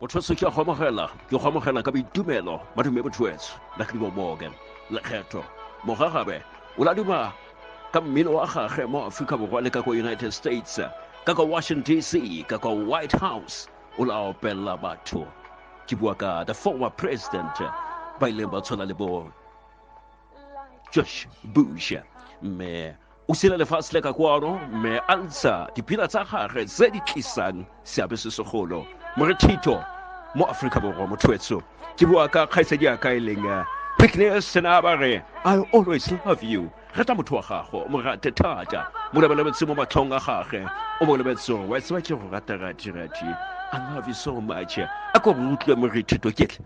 botshweso ke a go amogela ke go amogela ka boitumelo madume botshweso la ke dimomoke lekgetho mogagabe o laduma ka mmino wa gage mo aforika borwa le ka kwa united states ka kwa washington dc ka kwa white house o la opella batho ke bua ka the former president ba ileng ba tshwana le bo josh bush mme o sila lefatshe le ka kwano mme a ntsha dipina tsa gage tse di tlisang seabe se segolo morethito mo aforika borwa mothoetso ke bua ka kgaitsadi ya ka e leng eh, pickness sena ba re i always love you rata motho wa gago mo rate thata mo lebelebetse mo matlhong a gage o mo lebetse wa tseba ke go rata ratirati i love you so much a ko re utlwe morethito ketle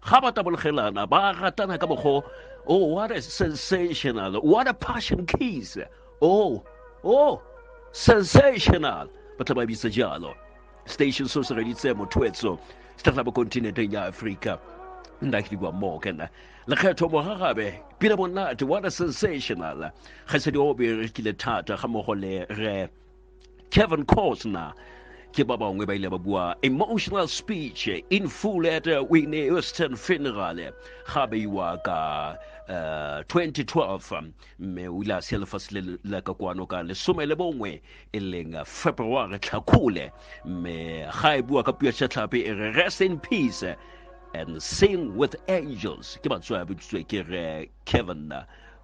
ga ba tabologelana ba ratana ka mokgo oh what a sensational what a passion kiss oh oh sensational ba tla ba bitsa jalo station so se reditse mothoetso se tla bo kontinenteng ya aforika nna ke dikwa moo ke nna lekgetho mogagabe pina monate what a sensational ga se di o berekile thata ga mmogo le re kevin cosner ke ba bangwe ba ile ba bua emotional speech in full at uh, winne western funeral ga beiwa ka uh, 2012 mme o ile a sia lefatshe le la ka kwano ka lesome le bongwe e leng february tlhakole mme ga e bua ka puo ya tlhape e re rest in peace and sing with angels ke batsoa bitsitswe ke re kevin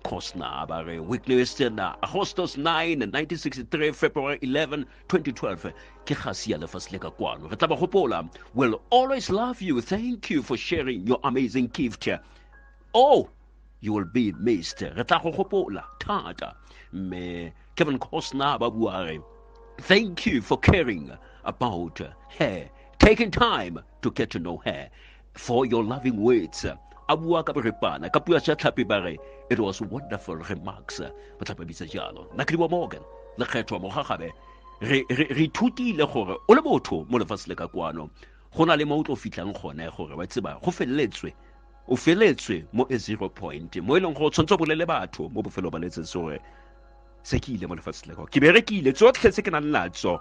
Kosna ba re Whitney Houston Agostos 9 1963 February 11 2012 ke gasi ya lefatshe le ka kwano re tla ba gopola will always love you thank you for sharing your amazing gift oh you will be missed re tla go gopola thata mme Kevin Costner ba bua re thank you for caring about her taking time to get to know her for your loving words a bua ka borepana ka pua ja tlhapi ba re it was wonderful remarks ba tlhapa bitsa jalo na ke morgan lekgetho mo gagabe re re ithutile gore o le motho mo lefatshe le ka kwano go na le mo o tlo fitlhang gone gore wa tseba go feleletswe o feletswe mo a zero point mo e leng gore o tshwanetse o bolele batho mo bofelo ba letsetse gore se ke ile mo lefatshe le ka ke berekile tsotlhe tse ke nang natso